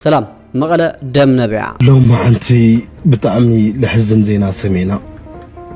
ሰላም መቐለ ደም ነቢዓ። ሎማዓንቲ ብጣዕሚ ለሕዝን ዜና ሰሚዕና።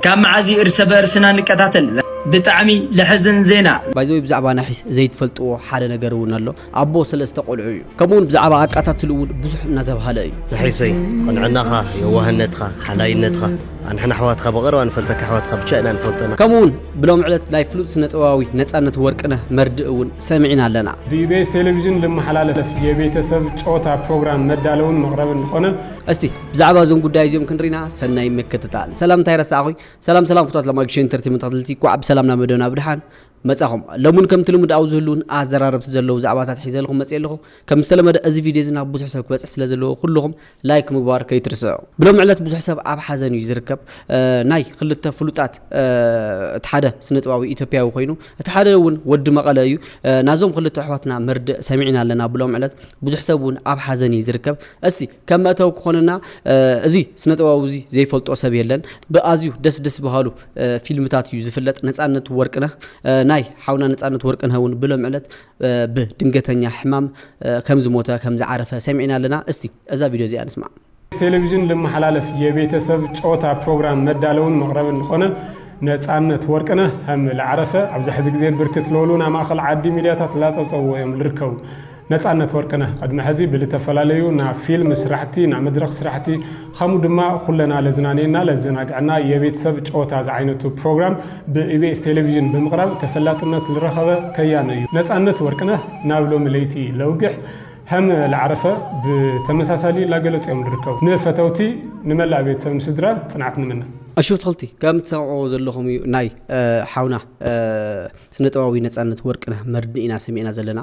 ካብ መዓዝ እዩ እርሰ በእርስና ንቀታተል? ብጣዕሚ ለሕዝን ዜና። ባይ ዘ ወይ ብዛዕባ ናሒስ ዘይትፈልጥዎ ሓደ ነገር እውን ኣሎ ኣቦ ሰለስተ ቆልዑ እዩ ከምኡ እውን ብዛዕባ ኣቃታትሉ እውን ብዙሕ እናተብሃለ እዩ። ናሒሰይ ቅንዕናኻ የዋህነትኻ ሓላይነትኻ ኣንሕና ኣሕዋትካ ብቐረባ ንፈልጠካ ኣሕዋትካ ብቻ ኢና ንፈልጠና። ከምኡ እውን ብሎሚ ዕለት ናይ ፍሉጥ ስነጥበባዊ ነፃነት ወርቅነህ መርድእ እውን ሰሚዕና ኣለና። ብኢቢኤስ ቴሌቪዥን ልመሓላለፍ የቤተሰብ ጨወታ ፕሮግራም መዳለውን መቕረብን ልኾነ። እስቲ ብዛዕባ እዞም ጉዳይ እዚኦም ክንሪና ሰናይ ምክትታል። ሰላም እንታይ ረሳዕኹይ? ሰላም ሰላም ፍቷት ለማጊሽ ኢንተርቴመንት ተኸትልቲ ኳዕ ብሰላም ናብ መደብና ብድሓን መጻኹም። ለሙን ከምቲ ልሙድ ኣብ ዝህሉውን ኣዘራረብቲ ዘለዉ ዛዕባታት ሒዘ ልኹም መጽየ ኣለኹ። ከም ዝተለመደ እዚ ቪድዮ እዚ ናብ ብዙሕ ሰብ ክበጽሕ ስለ ዘለዎ ኩሉኹም ላይክ ምግባር ከይትርስዑ። ብሎሚ ዕለት ብዙሕ ሰብ ኣብ ሓዘን እዩ ዝርከብ። ናይ ክልተ ፍሉጣት እቲ ሓደ ስነጥባዊ ኢትዮጵያዊ ኮይኑ እቲ ሓደ እውን ወዲ መቐለ እዩ። ናዞም ክልተ ኣሕዋትና መርድእ ሰሚዕና ኣለና ብሎሚ ዕለት ብዙሕ ሰብ እውን ኣብ ሓዘን እዩ ዝርከብ። እስቲ ከም መእተዊ ክኾነና እዚ ስነጥባዊ እዚ ዘይፈልጦ ሰብ የለን። ብኣዝዩ ደስ ደስ በሃሉ ፊልምታት እዩ ዝፍለጥ ነጻነት ወርቅነህ። ናይ ሓውና ነጻነት ወርቅነህ እውን ብሎሚ ዕለት ብ ድንገተኛ ሕማም ከም ዝሞተ ከም ዝዓረፈ ሰሚዕና ኣለና እስቲ እዛ ቪድዮ እዚኣ ንስማዕ። ቴሌቪዥን ልመሓላለፍ የቤተሰብ ጨወታ ፕሮግራም መዳለውን መቕረብን ልኾነ ነፃነት ወርቅነህ ሀም ልዓረፈ ኣብዛ ሕዚ ግዜ ብርክት ለበሉ ናይ ማእኸል ዓዲ ሚድያታት ላፀብፀብዎ እዮም ልርከቡ። ነፃነት ወርቅነህ ቐድሚ ሕዚ ብልተፈላለዩ ናይ ፊልም ስራሕቲ፣ ናይ መድረኽ ስራሕቲ፣ ኸምኡ ድማ ኹለና ለዝናንየና ለዘናግዐና የቤት ሰብ ጨወታ ዝዓይነቱ ፕሮግራም ብኢቢኤስ ቴሌቪዥን ብምቕራብ ተፈላጥነት ልረኸበ ከያኒ እዩ ነፃነት ወርቅነህ ናብ ሎሚ ለይቲ ለውግሕ ሀም ልዓረፈ ብተመሳሳሊ ላገለፁ እዮም ልርከቡ። ንፈተውቲ ንመላእ ቤት ሰብ ንስድራ ፅንዓት ንምነ። ኣሹ ኣትኽልቲ ከም ትሰምዕዎ ዘለኹም እዩ ናይ ሓውና ስነጥበባዊ ነፃነት ወርቅነህ መርድእ ኢና ሰሚዕና ዘለና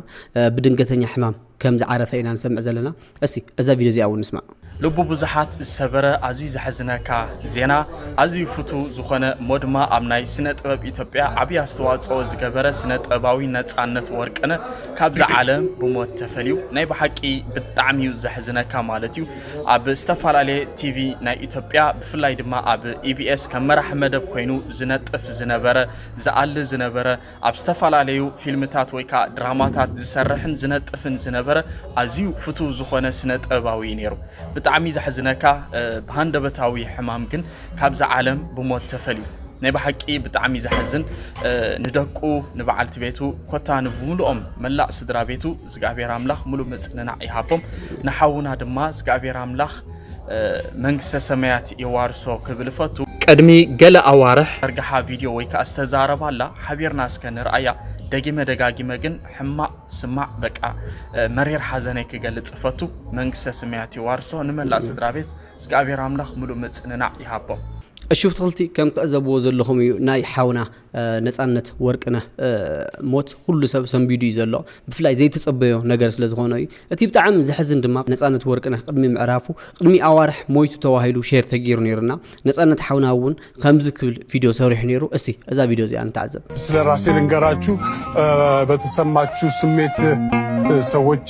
ብድንገተኛ ሕማም ከም ዝዓረፈ ኢና ንሰምዕ ዘለና እስቲ እዛ ቪድዮ እዚኣ ውን ንስማዕ። ልቢ ብዙሓት ዝሰበረ ኣዝዩ ዘሕዝነካ ዜና ኣዝዩ ፍቱው ዝኾነ እሞ ድማ ኣብ ናይ ስነ ጥበብ ኢትዮጵያ ዓብይ ኣስተዋፅኦ ዝገበረ ስነ ጥበባዊ ነፃነት ወርቅነ ካብዛ ዓለም ብሞት ተፈልዩ ናይ ብሓቂ ብጣዕሚ እዩ ዘሕዝነካ ማለት እዩ ኣብ ዝተፈላለየ ቲቪ ናይ ኢትዮጵያ ብፍላይ ድማ ኣብ ኢቢኤስ ከም መራሒ መደብ ኮይኑ ዝነጥፍ ዝነበረ ዝኣሊ ዝነበረ ኣብ ዝተፈላለዩ ፊልምታት ወይ ከኣ ድራማታት ዝሰርሕን ዝነጥፍን ዝነበረ ኣዝዩ ፍቱው ዝኾነ ስነ-ጥበባዊ እዩ ነይሩ። ብጣዕሚ ዘሕዝነካ ብሃንደበታዊ ሕማም ግን ካብዛ ዓለም ብሞት ተፈልዩ። ናይ ብሓቂ ብጣዕሚ ዘሕዝን ንደቁ ንበዓልቲ ቤቱ ኮታ ንብምሉኦም መላእ ስድራ ቤቱ እግዚኣብሔር ኣምላኽ ሙሉእ ምጽንናዕ ይሃቦም ንሓውና ድማ እግዚኣብሔር ኣምላኽ መንግስተ ሰማያት የዋርሶ ክብል እፈቱ። ቅድሚ ገለ ኣዋርሕ። ዘርግሓ ቪድዮ ወይ ከኣ ዝተዛረባላ ሓቢርና እስከ ንርኣያ ደጊመ ደጋጊመ ግን ሕማቕ ስማዕ በቃ መሪር ሓዘነይ ክገልጽ እፈቱ መንግስተ ስማያት የዋርሶ ንመላእ ስድራቤት እዝግኣብሄር ኣምላኽ ምሉእ ምጽንናዕ ይሃቦም። እሹፍትክልቲ ከም ትዕዘብዎ ዘለኹም እዩ ናይ ሓውና ነጻነት ወርቅነህ ሞት ኩሉ ሰብ ሰንቢዱ እዩ ዘሎ ብፍላይ ዘይተጸበዮ ነገር ስለ ዝኾነ እዩ እቲ ብጣዕሚ ዘሕዝን ድማ ነጻነት ወርቅነህ ቅድሚ ምዕራፉ ቅድሚ ኣዋርሕ ሞይቱ ተዋሂሉ ሼር ተገይሩ ነይሩና ነጻነት ሓውና እውን ከምዚ ክብል ቪድዮ ሰሪሑ ነይሩ እስቲ እዛ ቪድዮ እዚኣ ንተዓዘብ ስለ ራሴ ልንገራችሁ በተሰማችሁ ስሜት ሰዎች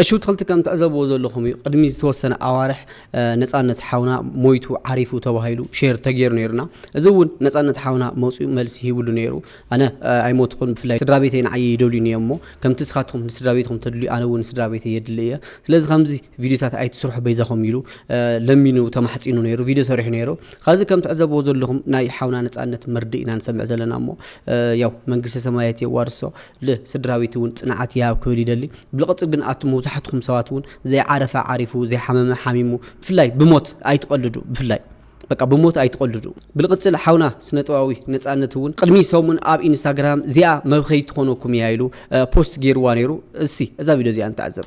እሺ ውትክልቲ ከም ትዕዘብዎ ዘለኹም እዩ ቅድሚ ዝተወሰነ ኣዋርሕ ነፃነት ሓውና ሞይቱ ዓሪፉ ተባሂሉ ሼር ተገይሩ ነይሩና እዚ እውን ነፃነት ሓውና መፅኡ መልሲ ሂብሉ ነይሩ ኣነ ኣይሞትኹን ብፍላይ ስድራ ቤተይ ንዓየ ይደልዩኒ እዮም እሞ ከምቲ ስኻትኹም ንስድራ ቤትኹም ተድልዩ ኣነ እውን ስድራ ቤተይ የድሊ እየ ስለዚ ከምዚ ቪድዮታት ኣይትስርሑ በይዛኹም ኢሉ ለሚኑ ተማሕፂኑ ነይሩ ቪድዮ ሰሪሑ ነይሩ ኸዚ ከም ትዕዘብዎ ዘለኹም ናይ ሓውና ነፃነት መርድእ ኢና ንሰምዕ ዘለና እሞ ያው መንግስተ ሰማያት የዋርሶ ል ስድራቤቲ ውን ጽንዓት ይሃብ ክብል ይደሊ ብልቅጽ ግን ኣቱም መብዛሕትኩም ሰባት ውን ዘይዓረፈ ዓሪፉ ዘይሓመመ ሓሚሙ ብፍላይ ብሞት ኣይትቀልዱ ብፍላይ በቃ ብሞት ኣይትቀልዱ ብልቅጽል ሓውና ስነጥባዊ ነጻነት ውን ቅድሚ ሰሙን ኣብ ኢንስታግራም ዚኣ መብከይት ትኮነኩም ኢያ ኢሉ ፖስት ጌርዋ ኔሩ እሲ እዛ ቪድዮ ዚኣ ንተዓዘብ።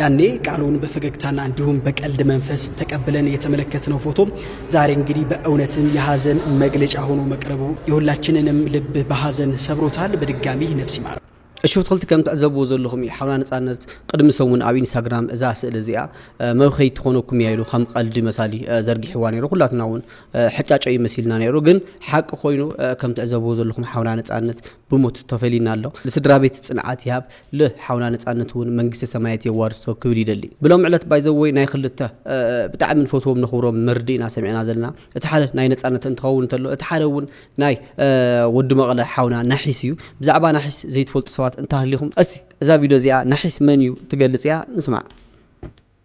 ያኔ ቃሉን በፈገግታና እንዲሁም በቀልድ መንፈስ ተቀብለን የተመለከትነው ፎቶ ዛሬ እንግዲህ በእውነትም የሐዘን መግለጫ ሆኖ መቅረቡ የሁላችንንም ልብ በሐዘን ሰብሮታል። በድጋሚ ነፍስ ይማር። እሺ ትክልቲ ከም ትዕዘብዎ ዘለኹም እዩ ሓውና ነፃነት ቅድሚ ሰሙን ኣብ ኢንስታግራም እዛ ስእሊ እዚኣ መብኸይ ትኾነኩም እያ ኢሉ ከም ቀልዲ መሳሊ ዘርጊሕዋ ነይሩ ኩላትና እውን ሕጫጨ እዩ መሲልና ነይሩ ግን ሓቂ ኮይኑ ከም ትዕዘብዎ ዘለኹም ሓውና ነፃነት ብሞት ተፈሊዩና ኣሎ ልስድራቤት ጽንዓት ይሃብ ል ሓውና ነጻነት ውን መንግስተ ሰማየት የዋርሶ ክብል ይደሊ ብሎሚ ዕለት ባይዘወይ ናይ ክልተ ብጣዕሚ ንፈትዎም ነኽብሮም መርድእ ኢና ሰሚዕና ዘለና እቲ ሓደ ናይ ነጻነት እንትኸውን እንተሎ እቲ ሓደ ውን ናይ ወዲ መቐለ ሓውና ናሒስ እዩ ብዛዕባ ናሒስ ዘይትፈልጡ ሰባት እንተሃሊኹም እስቲ እዛ ቪድዮ እዚኣ ናሒስ መን እዩ ትገልጽ እያ ንስማዕ።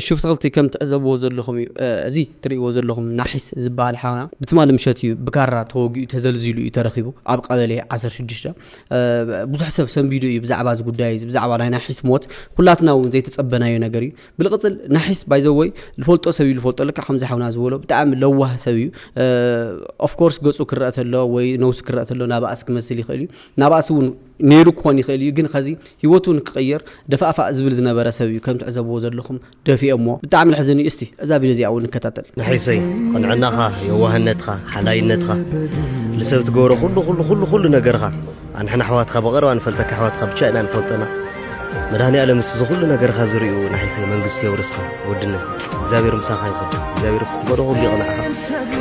እሺ ብትክልቲ ከም ትዕዘብዎ ዘለኩም እዩ እዚ ትርእይዎ ዘለኩም ናሒስ ዝባሃል ሓውና ብትማሊ ምሸት እዩ ብካራ ተወጊኡ ተዘልዚሉ እዩ ተረኪቡ ኣብ ቀበሌ ዓሰርተ ሽዱሽተ ብዙሕ ሰብ ሰንቢዱ እዩ ብዛዕባ እዚ ጉዳይ እዚ ብዛዕባ ናይ ናሒስ ሞት ኩላትና እውን ዘይተጸበናዮ ነገር እዩ ብልቅጽል ናሒስ ባይዘወይ ዝፈልጦ ሰብ እዩ ዝፈልጦ ልካ ከምዚ ሓውና ዝበሎ ብጣዕሚ ለዋህ ሰብ እዩ ኦፍኮርስ ገጹ ክረአ ተሎ ወይ ነውሱ ክረአ ተሎ ናባእስ ክመስል ይኽእል እዩ ናባእስ እውን ነይሩ ክኾን ይኽእል እዩ ግን ኸዚ ሂወቱ ንክቕይር ደፋእፋእ ዝብል ዝነበረ ሰብ እዩ ከም ትዕዘብዎ ዘለኹም ደፊኦሞ ብጣዕሚ ለሕዝን እዩ እስቲ እዛ ቪድዮ እዚኣ ውን ንከታተል። መሐይሰይ ቕንዕናኻ የዋህነትኻ ሓላይነትኻ ልሰብ ትገብሮ ኹሉ ኹሉ ኹሉ ኹሉ ነገርኻ ኣንሕና ኣሕዋትኻ ብቐረባ ንፈልጠካ ኣሕዋትኻ ብቻ ኢና ንፈልጠና መድሃኒኣለም ምስቲ ዝኹሉ ነገርኻ ዝርእዩ ናሒሰይ መንግስቱ የውርስካ ወድነ እግዚኣብሔር ምሳኻ ይኹን እግዚኣብሔር ክትትበዶ ኩሉ ይቕንዕኻ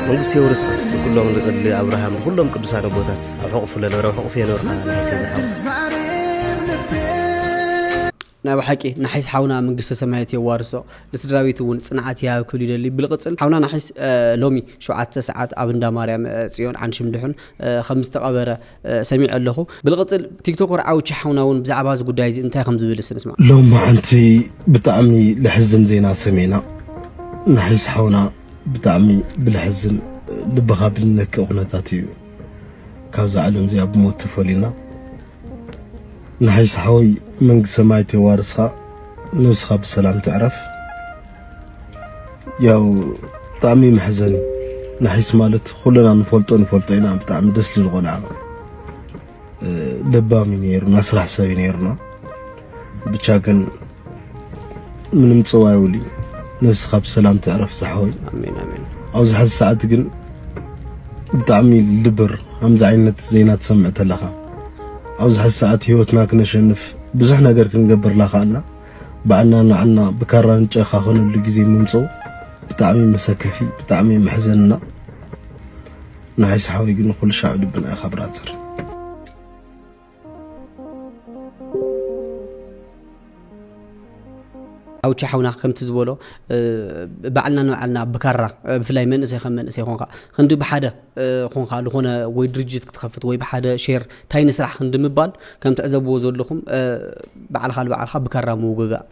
መንግስቱ የውርስካ ንኩሎም ንቅድሊ ኣብርሃም ንኩሎም ቅዱሳን ኣቦታት ኣብ ሕቑፉ ለነበረ ኣብ ሕቑፉ የነበርካ ናይ ሰይድ ሓው ናይ ብሓቂ ናሒስ ሓውና መንግስተ ሰማያት የዋርሶ ንስድራቤት እውን ፅንዓት ይሃብ ክብል ይደሊ ብልቕፅል ሓውና ናሒስ ሎሚ ሸውዓተ ሰዓት ኣብ እንዳ ማርያም ፅዮን ዓንሽም ድሑን ከም ዝተቐበረ ሰሚዐ ኣለኹ ብልቕፅል ቲክቶከር ዓውቺ ሓውና እውን ብዛዕባ እዚ ጉዳይ እዚ እንታይ ከም ዝብል ስንስማ ሎም መዓንቲ ብጣዕሚ ልሕዝን ዜና ሰሚዕና ናሒስ ሓውና ብጣዕሚ ብልሕዝን ልብኻ ብልነክእ ኩነታት እዩ ካብዛ ዓለም እዚኣ ብሞት ተፈሊና ንሓይሳ ሓወይ መንግስቲ ሰማያት የዋርስካ ነብስካ ብሰላም ትዕረፍ ያው ብጣዕሚ መሕዘኒ ናሒስ ማለት ኩልና ንፈልጦ ንፈልጦ ኢና ብጣዕሚ ደስ ዝብል ቆልዓ ለባም እዩ ነይሩ ናስራሕ ሰብ እዩ ነይሩና ብቻ ግን ምንም ጽዋ ይውሊ ነብስኻ ብሰላም ትዕረፍ ዝሓወይ ኣሜን ኣሜን ኣብዚ ሐዚ ሰዓት ግን ብጣዕሚ ልብር ከምዚ ዓይነት ዜና ትሰምዕ ተለኻ ኣብዚ ሐዚ ሰዓት ህይወትና ክነሸንፍ ብዙሕ ነገር ክንገብር ላኻኣልና ባዕልና ንዓና ብካራ ንጨካኸነሉ ግዜ ምምጽኡ ብጣዕሚ መሰከፊ ብጣዕሚ መሕዘንና ንሓይስ ሓወይ ግን ኩሉ ሻዕ ልብና ኢኻ ብራዘር ኣውቸ ሓውና ከምቲ ዝበሎ ባዕልና ንባዕልና ብካራ ብፍላይ መንእሰይ ከም መንእሰይ ኮንካ ክንዲ ብሓደ ኮንካ ዝኾነ ወይ ድርጅት ክትኸፍት ወይ ብሓደ ሼር እንታይ ንስራሕ ክንዲ ምባል ከም ትዕዘብዎ ዘለኹም ባዕልካ ንባዕልካ ብካራ ምውግጋእ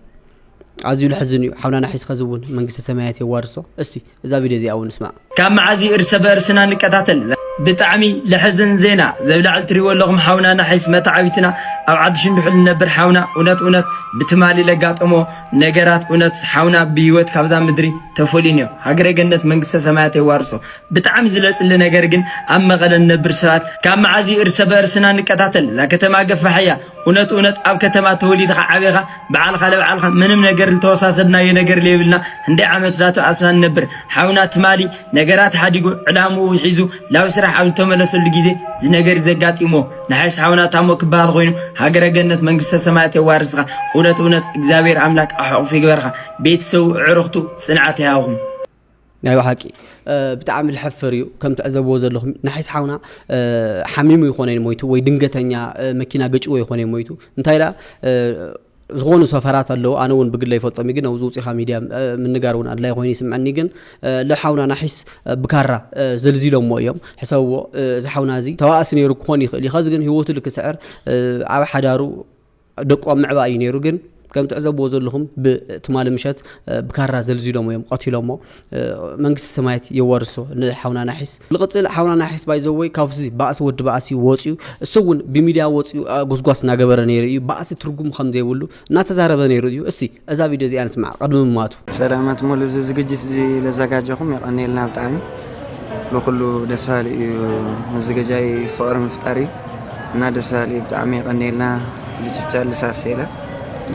ኣዝዩ ለሕዝን እዩ ሓውና ናሒስ ኸዚ እውን መንግስተ ሰማያት የዋርሶ እስቲ እዛ ቪድዮ እዚኣ እውን ንስማዕ። ካብ መዓዝ እዩ እርሰ በእርስና ንቀታተል ዛሓፍ። ብጣዕሚ ለሕዝን ዜና ዘብላዕል ትሪእዎ ኣለኹም ሓውና ናሒስ መታዕቢትና ኣብ ዓዲ ሽንዱሕል ንነብር ሓውና እውነት እውነት ብትማሊ ለጋጠሞ ነገራት እውነት ሓውና ብሂወት ካብዛ ምድሪ ተፈልዩኒዮ ሃገረ ገነት መንግስተ ሰማያት የዋርሶ ብጣዕሚ ዝለፅሊ ነገር ግን ኣብ መቐለ ንነብር ሰባት ካብ መዓዝ እዩ እርሰ በእርስና ንቀታተል ዛከተማ ገፋሕ እያ እውነት እውነት ኣብ ከተማ ተወሊድኻ ዓብኻ ብዓልኻ ለብዓልኻ ምንም ነገር ልተወሳሰድናዮ ነገር ለየብልና ህንደይ ዓመት ዳቶ ኣስና ንነብር ሓውና ትማሊ ነገራት ሓዲጉ ዕላምኡ ሒዙ ላብ ስራሕ ኣብ ልተመለሰሉ ጊዜ ዝነገር ዘጋጢምዎ ንሓይስ ሓውና ታሞ ክበሃል ኾይኑ ሃገረ ገነት መንግስተ ሰማያት የዋርስኻ እውነት እውነት እግዚኣብሔር ኣምላክ ኣሕቑፍ ይግበርኻ ቤተሰቡ ዕርኽቱ ጽንዓት ይሃብኹም ናይ ባሓቂ ብጣዕሚ ልሐፍር እዩ ከም ትዕዘብዎ ዘለኹም ናሒስ ሓውና ሓሚሙ ይኾነ ሞይቱ ወይ ድንገተኛ መኪና ገጭዎ ይኾነ ሞይቱ እንታይ ዳ ዝኾኑ ሰፈራት ኣለዉ ኣነ እውን ብግለ ይፈልጦም ግን ኣብዚ ውፅኻ ሚድያ ምንጋር እውን ኣድላይ ኮይኑ ይስምዐኒ ግን ልሓውና ናሒስ ብካራ ዘልዚሎሞ እዮም ሕሰብዎ እዚ ሓውና እዚ ተዋእሲ ነይሩ ክኾን ይኽእል እዩ ከዚ ግን ህይወቱ ልክስዕር ኣብ ሓዳሩ ደቁ ኣብ ምዕባእ እዩ ነይሩ ግን ከም ትዕዘብዎ ዘለኹም ብትማሊ ምሸት ብካራ ዘልዚሎሞ እዮም ቀቲሎሞ መንግስቲ ሰማያት የዋርሶ ንሓውና ናሒስ ልቕፅል ሓውና ናሒስ ባይዘወይ ካብዚ ባእሲ ወዲ ባእሲ ወፅዩ እሱ እውን ብሚድያ ወፅዩ ጎስጓስ እናገበረ ነይሩ እዩ ባእሲ ትርጉም ከም ዘይብሉ እናተዛረበ ነይሩ እዩ እስቲ እዛ ቪድዮ እዚኣ ንስምዓ ቅድሚ ምሟቱ። ሰላማት ሙሉ እዚ ዝግጅት እዚ ለዛጋጀኹም የቀንየልና ብጣዕሚ ብኩሉ ደስ ባሃሊ እዩ ምዝገጃይ ፍቅሪ ምፍጣር እዩ እና ደስ ባሃሊ እዩ ብጣዕሚ የቀንየልና ልችቻ ልሳሴለ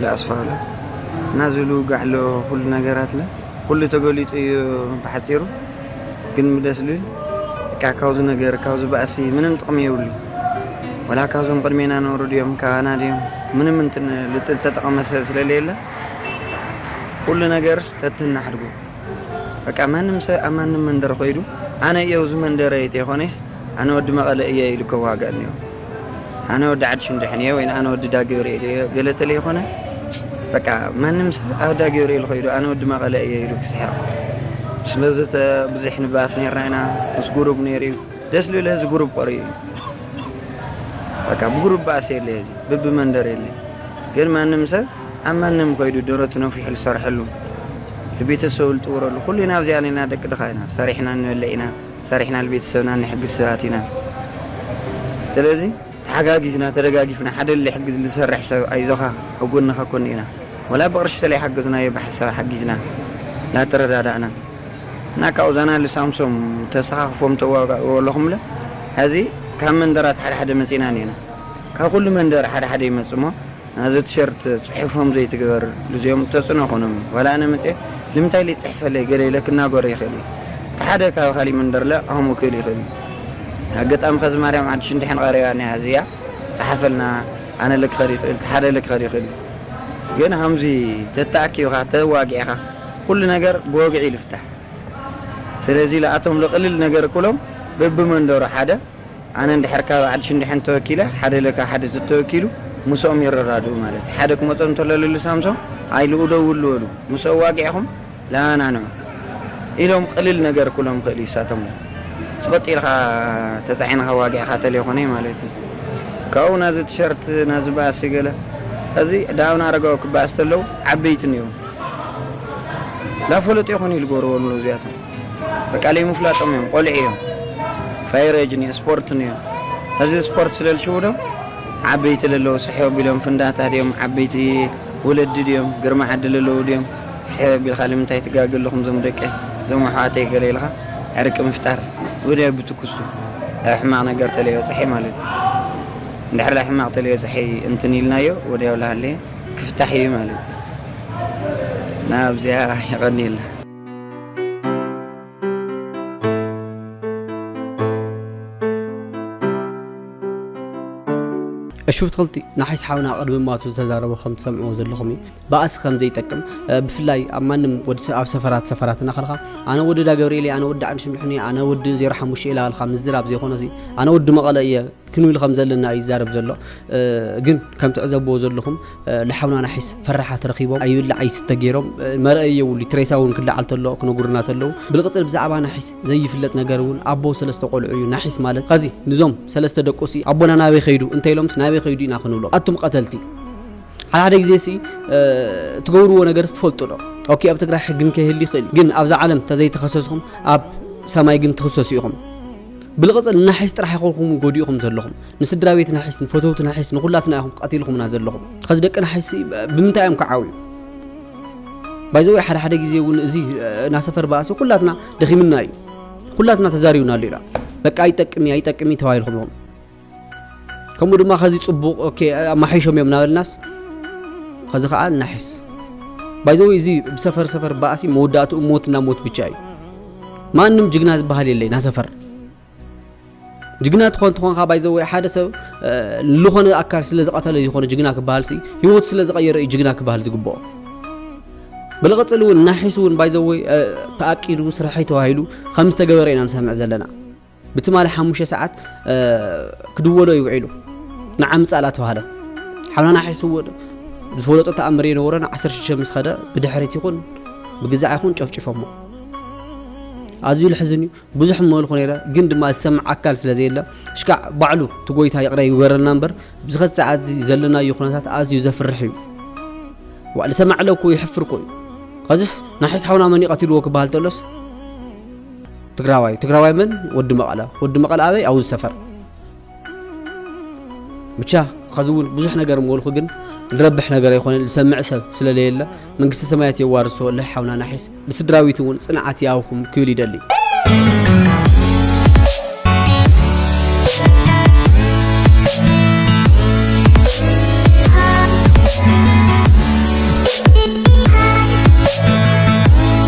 ልኣስፋሉ እና ዝብሉ ጋዕሎ ኩሉ ነገራትለ ኩሉ ተገሊፁ እዩ ብሓፂሩ ግን ምደስ ልብል እካ ካብዚ ነገር ካብዚ ባእሲ ምንም ጥቕሚ የብሉ ወላ ካብዞም ቅድሜና ነሩ ድዮም ካባና ድዮም ምንም እንትን ልጥል ተጠቕመ ስለለየለ ኩሉ ነገርስ ተትናሕድጉ በቃ ማንም ሰብ ኣብ ማንም መንደር ኮይዱ ኣነ እየው እዚ መንደረ ተይኮነስ ኣነ ወዲ መቐለ እየ ኢሉ ከዋገ እኒኦ ኣነ ወዲ ዓዲ ሽንድሕን እየ ወይ ኣነ ወዲ ዳገብርኤል እየ ገለ ተለይኮነ በቃ ማንም ሰብ ኣብ ዳገብርኤል ከይዱ ኣነ ወዲ መቐለ እየ ኢሉ ክስሕቕ ስለዚ ብዙሕ ንባስ ነርና ኢና ምስ ጉሩብ ነይሩ እዩ ደስ ልብል ህዚ ጉሩብ ቆርዩ እዩ በቃ ብጉሩብ ባእሲ የለ ህዚ ብቢ መንደር የለ ግን ማንም ሰብ ኣብ ማንም ከይዱ ደረቱ ነፊሑ ዝሰርሐሉ ንቤተሰቡ ዝጥውረሉ ኩሉና ኣብዚኣ ነና ደቂ ድኻ ኢና ሰሪሕና ንበልዕ ኢና ሰሪሕና ንቤተሰብና እንሕግዝ ሰባት ኢና ስለዚ ተሓጋጊዝና ተደጋጊፍና ሓደ ልሕግዝ ልሰርሕ ሰብ ኣይዞኻ ኣብ ጎንኻ ኮን ኢና ወላ ብቅርሺ ተለይሓገዝናዮ ብሓሳብ ሓጊዝና ላተረዳዳእና እና ካብኡ ዛና ልሳምሶም ተሰኻኽፎም ተዋጋእዎ ኣለኹምለ ሀዚ ካብ መንደራት ሓደሓደ መፂእና እኒኤና ካብ ኩሉ መንደር ሓደሓደ ይመፅእሞ ናዛ ትሸርት ጽሑፎም ዘይትግበር ግዚኦም ተጽዕኖ ኮኖም እዩ ዋላ ኣነ መጽየ ልምንታይ ኢለ ይጽሕፈለይ ገለ ኢለ ክናገሮ ይክእል እየ እቲ ሓደ ካብ ካሊእ መንደርለ ኣሁሙ ክእል ይክእል እዩ ኣገጣሚ ከዚ ማርያም ዓዲ ሽንድሕን ቀሪባ እኒሃ እዚኣ ጸሓፈልና ኣነለ ክከድ ይክእል እቲ ሓደለ ክከድ ይክእል እዩ ግን ሃምዚ ተተኣኪብካ ተዋጊዕካ ኩሉ ነገር ብወግዒ ልፍታሕ ስለዚ ለኣቶም ለቅልል ነገር ክብሎም በብመንደሩ ሓደ ኣነ እንድሕር ካብ ዓዲ ሽንድሕን ተወኪለ ሓደ ለካ ሓደ ተተወኪሉ ምስኦም ይረዳድኡ ማለት እዩ ሓደ ክመጾ እንተሎ ልሉ ሳምሶም ኣይ ልኡ ደውሉ በሉ ምስ ኣዋጊዕኹም ለኣናንዑ ኢሎም ቅልል ነገር ኩሎም ክእል እዩ ሳቶም ጽቕጥ ኢልካ ተጻዒንኻ ዋጊዕካ ተለይኮነ ማለት እዩ ካብኡ ናዚ ቲሸርት ናዚ ባእሲ ገለ እዚ ዳውን ኣረጋዊ ክባእስ ተለው ዓበይትን እዮም ላፈለጡ ይኹን ኢሉ ገበርዎ እዚኣቶም በቃ ለይምፍላጦም እዮም ቆልዑ እዮም ፋይረጅ ን ስፖርት ን እዮም ሀዚ ስፖርት ስለልሽውዶም ዓበይቲ ለለዉ ስሕብ ኣቢሎም ፍንዳታ ድዮም ዓበይቲ ወለዲ ድዮም ግርማ ዓዲ ለለዉ ድዮም ስሕብ ኣቢልካ ልምንታይ ትጋግ ኣለኹም ዞም ደቂ ዞም ኣሕዋተይ ገለ ኢልካ ዕርቂ ምፍጣር ወዲያ ብትኩስቱ ኣብ ሕማቕ ነገር ተለይበፀሐ ማለት እዩ እንድሕር ዳይ ሕማቕ ተለይበፀሐ እንትን ኢልናዮ ወዲያው ላሃለየ ክፍታሕ እዩ ማለት እዩ ናብዚያ የቐኒየልና እሹብ ትኽልቲ ንሓይስ ሓውና ቅድሚ ማቱ ዝተዛረቦ ከም ትሰምዕዎ ዘለኹም እዩ ባእሲ ከም ዘይጠቅም ብፍላይ ኣብ ማንም ወዲ ኣብ ሰፈራት ሰፈራት እናኸልካ ኣነ ወዲ ዳ ገብርኤል ኣነ ወዲ ዓንሽምድሕኒ ኣነ ወዲ ዜሮ ሓሙሽተ ኢላ ልካ ምዝራብ ዘይኮነ ሲ ኣነ ወዲ መቐለ እየ ክንብል ከም ዘለና እዩ ይዛረብ ዘሎ ግን ከም ትዕዘብዎ ዘለኹም ልሓውና ናሒስ ፈራሓት ረኺቦም ኣይብላዕ ኣይስተ ጌሮም መርኣዪ የብሉ እቲ ሬሳ ውን ክለዓል ተሎ ክነጉርና ተለዉ ብልቅጽል ብዛዕባ ናሒስ ዘይፍለጥ ነገር ውን ኣቦ ሰለስተ ቆልዑ እዩ ናሒስ ማለት ኸዚ ንዞም ሰለስተ ደቁሲ ኣቦና ናበይ ኸይዱ እንተኢሎምስ ናበይ ኸይዱ ኢና ክንብሎም ኣቱም ቐተልቲ ሓደ ሓደ ግዜሲ ትገብርዎ ነገርስ ትፈልጡ ዶ ኦኬ ኣብ ትግራይ ሕግን ከይህሊ ይኽእል እዩ ግን ኣብዛ ዓለም ተዘይተኸሰስኹም ኣብ ሰማይ ግን ትኽሰሱ ኢኹም። ብልቕጽል ናሒስ ጥራሕ ኣይኮንኩምን ጎዲእኹም ዘለኹም ንስድራቤት ናሒስ ንፈተውቲ ናሒስ ንኹላትና ኢኹም ቀቲልኹምና ዘለኹም ኸዚ ደቂ ናሒስ ብምንታይ እዮም ክዓብዩ ባይዘወይ ሓደ ሓደ ግዜ እውን እዚ ናሰፈር ባእሲ ኩላትና ደኺምና እዩ ኩላትና ተዛሪብና ኣሎ ኢላ በቃ ይጠቅም እያ ይጠቅም እዩ ተባሂልኩም ኢኹም ከምኡ ድማ ከዚ ጽቡቕ ኦኬ ኣማሓይሾም እዮም ናበልናስ ከዚ ከዓ እናሕስ ባይዘው እዚ ብሰፈር ሰፈር ባእሲ መወዳእትኡ ሞትና ሞት ብቻ እዩ ማንም ጅግና ዝበሃል የለይ ናሰፈር ጅግና ትኾን ትኾንካ ባይዘወ ሓደ ሰብ ዝኾነ ኣካል ስለ ዝቐተለ ዝኾነ ጅግና ክበሃል ሲ ህይወት ስለ ዝቐየረ እዩ ጅግና ክበሃል ዝግብኦ ብልቕፅል እውን ናሒሱ እውን ባይዘወይ ተኣቂዱ ስራሐይ ተባሂሉ ከም ዝተገበረ ኢና ንሰምዕ ዘለና ብትማሊ ሓሙሽተ ሰዓት ክድወሎ እዩ ውዒሉ ንዓምፃ ላተባህለ ሓውናና ሓይስዎ ዝፈለጦ ተኣምር የነበሮን ዓሰርተ ሽዱሽተ ምስ ኸደ ብድሕሪት ይኹን ብግዛዕ ይኹን ጨፍጭፎሞ ኣዝዩ ልሕዝን እዩ ብዙሕ መልኩ ነይረ ግን ድማ ዝሰምዕ ኣካል ስለ ዘየለ ሽካዕ ባዕሉ እቲ ጎይታ ይቕረ ይግበረልና እምበር ብዝኸት ሰዓት እዚ ዘለናዮ ኩነታት ኣዝዩ ዘፍርሕ እዩ ዋዕ ዝሰማዕለ እኮ ይሕፍር እኮ እዩ ከዚስ ናሒስ ሓውና መን ይቐትልዎ ክበሃል ተሎስ ትግራዋይ ትግራዋይ መን ወዲ መቐለ ወዲ መቐለ ኣበይ ኣውዝ ሰፈር ብቻ ኸዚ እውን ብዙሕ ነገር ምበልኩ ግን ንረብሕ ነገር ኣይኮነን ዝሰምዕ ሰብ ስለለየለ መንግስቲ ሰማያት የዋርሶ ለሓውና ናሒስ ንስድራዊት እውን ፅንዓት ይኣብኹም ክብል ይደሊ